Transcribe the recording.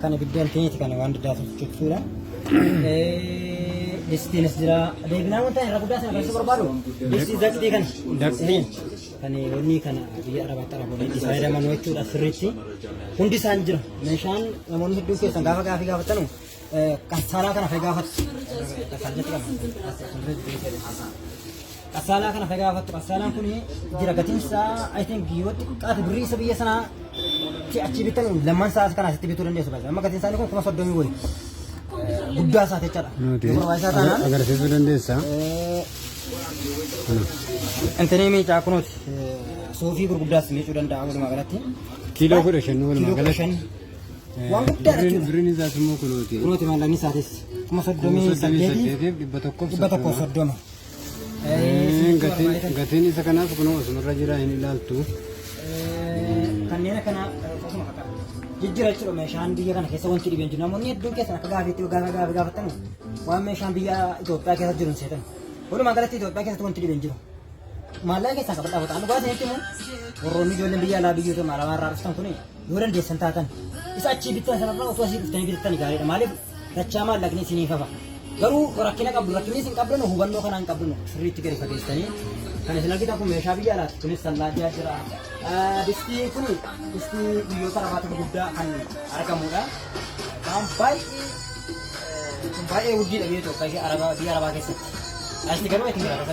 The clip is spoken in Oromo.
Kan ibiddaan keeti kana waan daddaatuuf jechuudha. Distiinis jira. Deebinaa wanta irra guddaa sana barsiisuu barbaadu. Distii daqtii kana. Daqtiin. Kan wanni kana biyya arabaatti araboonni itti fayyadaman jechuudha sirriitti. Hundi isaan jira. Meeshaan namoonni hedduun keessan gaafa gaafii gaafatanu kassaaraa kana fa'ii gaafatu. Kassaaraa jechuudha. Qassaalaa kana kan gaafattu qassaalaan kun jira gatiin isaa I think yoo xiqqaate birrii isa biyya sanaa ti achi bitan lamman isaa kana asitti bituu dandeessu baay'ee amma gatiin isaanii kun kuma soddomii wayi guddaa isaa jechaadha. Nuti Barbaachisaa taanaan agarsiisuu dandeessa. intinii miicaa kunuuti suufii gurguddaas miicuu danda'a walumaa galatti. Kiiloo kudha shan walumaa Kiiloo kudha galatti. shan Eh, Waan guddaa birriin- jechuudha. Birriin isaas immoo kunuuti. kunuuti maallaqni isaatis kuma Kuma soddomii soddomii saddeetii saddeetiif dhibba tokkoof dhibba tokkoof soddoma. soddoma. Gatiin isa kanaas kunoo asumarra jira hin ilaaltu. Kanneen akkana akkasuma fakkaata. Jijjiira jechuudha meeshaan biyya kana keessa wanti dhibeen jiru namoonni hedduun keessan akka gaafeetti gaafa gaafa gaafattan waan meeshaan biyya Itoophiyaa keessa jiru hin seetan. Walumaa galatti Itoophiyaa keessatti wanti dhibeen jiru. Maallaqa keessaa qabadhaa bataan dhugaa ta'etti immoo warroonni ijoolleen biyya alaa biyyoota maalamaa irraa dhuftan kuni Yoo dandeessan taatan isa achii bittan sanarraa osoo asii dhuftanii bitattani gaariidha. Maaliif dachaa maallaqni isiniif hafa. Garuu rakkina qabdu rakkinni isin qabdanu hubannoo kanaan qabdanu sirriitti gadi fageessanii kan isin argitan kun meeshaa biyya alaati kunis sallaajaa jira. Ah, Distiin kun distii biyyoota lafaatti gurguddaa kan argamudha. Kan baay'ee eh, kun baay'ee urjiidha biyya Itoophiyaa fi Arabaa- biyya Arabaa keessatti. Asitti garuu itti jiraata.